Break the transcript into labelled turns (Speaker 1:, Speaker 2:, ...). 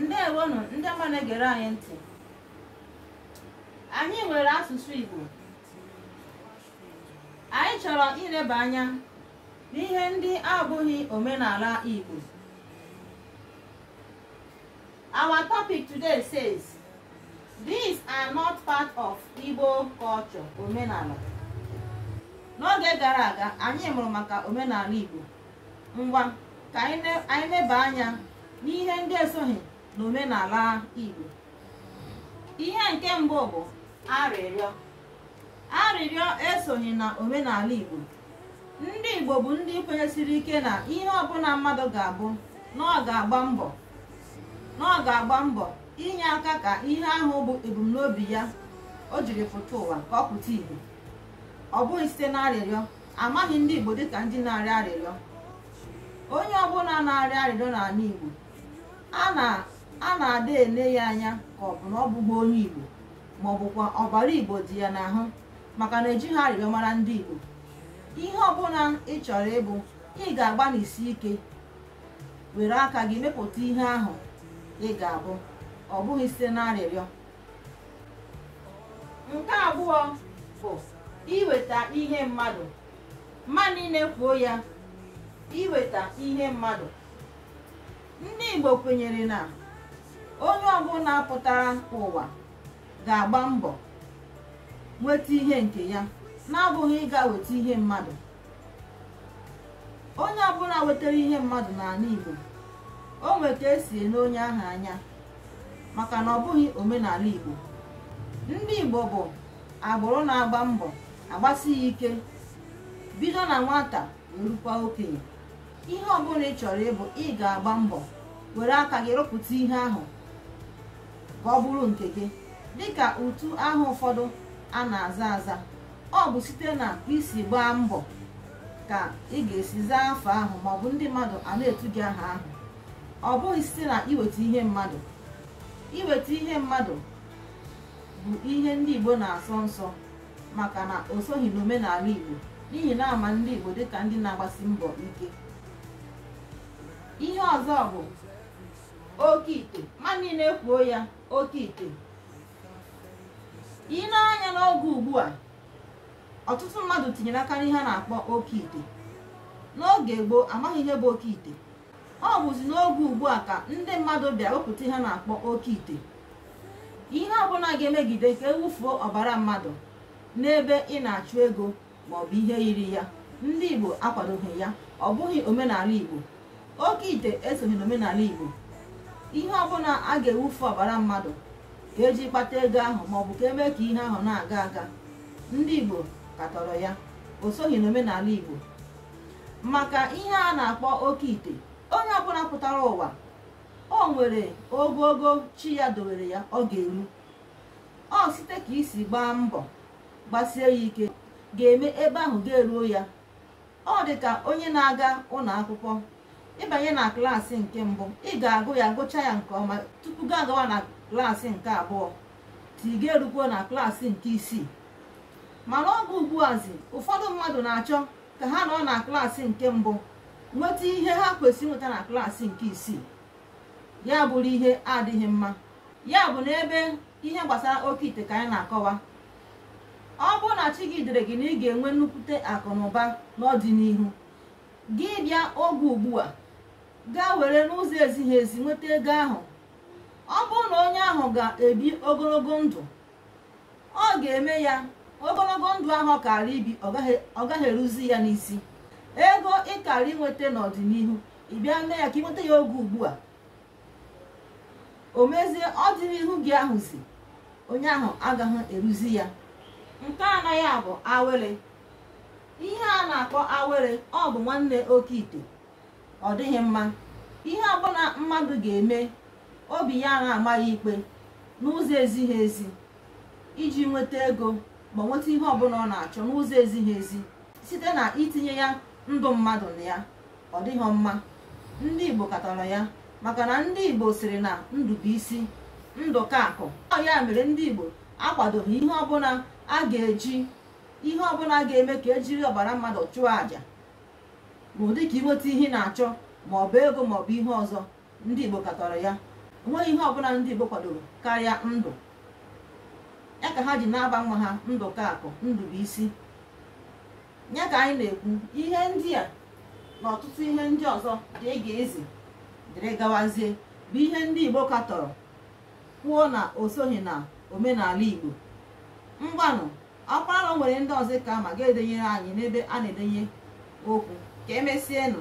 Speaker 1: ndewonụ ndị ọma na-egere anyị ntị anyị nwere asụsụ Igbo anyị chọrọ ileba anya n'ihe ndị abụghị omenala Igbo our topic today says these are not part of Igbo culture omenala n'oge gara aga anyị mụrụ maka omenala Igbo ngwa ka anyị neba anya n'ihe ndị esoghị n'omenala Igbo ihe nke mbụ bụ arịrịọ arịrịọ esoghị na omenala Igbo ndị Igbo bụ ndị kwenyesiri ike na ihe ọbụla mmadụ ga-abụ na ọ na ọ ga-agba mbọ inye aka ka ihe ahụ bụ ebumnobi ya o jiri pụta ụwa ka ọ pụta ìhè ọ bụghị site n'arịrịọ amaghị ndị Igbo dịka ndị na-arịọ arịrịọ onye ọbụla na-arịọ arịrịọ n'ala Igbo a na-ada ele ya anya ka ọ bụ na ọ bụghị onye Igbo ma ọ bụkwa ọbara Igbo dị ya n'ahụ maka na ejighị arịrịọ mara ndị Igbo ihe ọbụla ị chọrọ ịbụ ị ga-agbanisi ike were aka gị mepụta ihe ahụ ị ga-abụ ọ bụghị site na arịrịọ nke abụọ bụ iweta ihe mmadụ mmadụ niile kwuo ya iweta ihe mmadụ ndị Igbo kwenyere na onye ọbụla pụtara ụwa ga-agba mbọ nweta ihe nke ya na-abụghị ịga weta ihe mmadụ onye ọbụla wetara ihe mmadụ n'ala Igbo o nwere ka e si ele onye ahụ anya maka na ọ bụghị omenala Igbo ndị Igbo bụ agbụrụ na-agba mbọ agbasi ya ike bido na nwata wee rukwa okenye ihe ọbụla ị chọrọ ịbụ ị ga-agba mbọ were aka gị rụpụta ihe ahụ ka ọ bụrụ nke gị dịka utu aha ụfọdụ a na-aza aza ọ bụ site na ka i si gbaa mbọ ka ị ga-esi zaa afa ahụ maọbụ ndị mmadụ a na-etu gị aha ahụ ọ bụghị site na iweta ihe mmadụ iweta ihe mmadụ bụ ihe ndị Igbo na-asọ nsọ maka na o soghị n'omenala Igbo n'ihi na a ma ndị Igbo dịka ndị na-agbasi mbọ ike ihe ọzọ bụ oke ite mmadụ niile kwuo ya oke ite i nee anya n'oge ugbu a ọtụtụ mmadụ tinyere aka n'ihe a na-akpọ oke ite n'oge gboo amaghị ihe bụ oke ite ọ bụzi n'oge ugbu a ka ndị mmadụ bịa wepụta ihe a na-akpọ oke ite ihe ọbụla ga-emegide ka e wufuo ọbara mmadụ n'ebe ị na-achụ ego ma ọ bụ ihe yiri ya ndị Igbo akwadoghị ya ọ bụghị omenala Igbo oke ite esoghị n'omenala Igbo ihe ọbụla a ga-ewufu ọbara mmadụ ka eji kpata ego ahụ ma ọ bụ ka eme ka ihe ahụ na-aga aga ndị Igbo katọrọ ya o soghị n'omenala Igbo maka ihe a na-akpọ oke ite onye ọbụla pụtara ụwa o nwere ogogo chi ya dowere ya ọ ga-eru ọ site ka i si gbaa mbọ gbasie ya ike ga-eme ebe ahụ ga-eruo ya ọ dị ka onye na-aga ụlọ akwụkwọ ị banye na klaasị nke mbụ ị ga-agụ ya gụcha ya nke ọma tupu gị agawa na klaasị nke abụọ ti ga erukwo na klaasị nke isii mana oge ugbuazi ụfọdụ mmadụ na-achọ ka ha nọ na klaasị nke mbụ nweta ihe ha kwesịrị inweta na klaasị nke isii ya bụrụ ihe adịghị mma ya bụ na ebe ihe gbasara oke ite ka anyị na-akọwa ọ bụrụ na chi gị dere gị na ị ga-enwe nnukwute akụ na ụba n'ọdịnihu gị bịa oge ugbu a gaa were n'ụzọ ezighi ezi nweta ego ahụ ọ bụrụ na onye ahụ ga-ebi ogologo ndụ ọ ga-eme ya ogologo ndụ ahụ ọ kara ibi ọ gaghị eruzi ya n'isi ego ị kara inweta n'ọdịnihu ị bịa mee ya ka ị nweta ya oge ugbu a o mezie ọdịnihu gị ahụzi onye ahụ agaghị eruzi ya nke anọ ya bụ awere ihe a na-akpọ awere ọ bụ nwanne oke ite ọ dịghị mma ihe ọbụla mmadụ ga-eme obi ya na-ama ya ikpe n'ụzọ ezighi ezi iji nweta ego ma nweta ihe ọbụla ọ na-achọ n'ụzọ ezighi ezi site na itinye ya ndụ mmadụ na ya ọ dịghị mma ndị Igbo katọrọ ya maka na ndị Igbo sịrị na ndụ bụ isi ndụ ka akụ ọ ya mere ndị Igbo akwadoghị ihe ọbụla a ga-eji ihe ọbụla ga-eme ka ejiri ọbara mmadụ chụọ àjà n'ụdị ka i nweta ihe na-achọ ma ọ bụ ego ma ọ bụ ihe ọzọ ndị Igbo katọrọ ya o nweghị ihe ọbụla ndị Igbo kwadoro karịa ndụ ya ka ha ji na-aba nwa ha ndụ ka akụ ndụ bụ isi ya ka anyị na-ekwu ihe ndị a na ọtụtụ ihe ndị ọzọ dịrị gazie dịrị gawazie bụ ihe ndị igbo katọrọ kwuo na o soghị na omenala igbo ngwanụ ọkwa na o nwere ndị ọzọ ị ka ma gaa denyere anyị n'ebe a na-edenye okwu ka emesienụ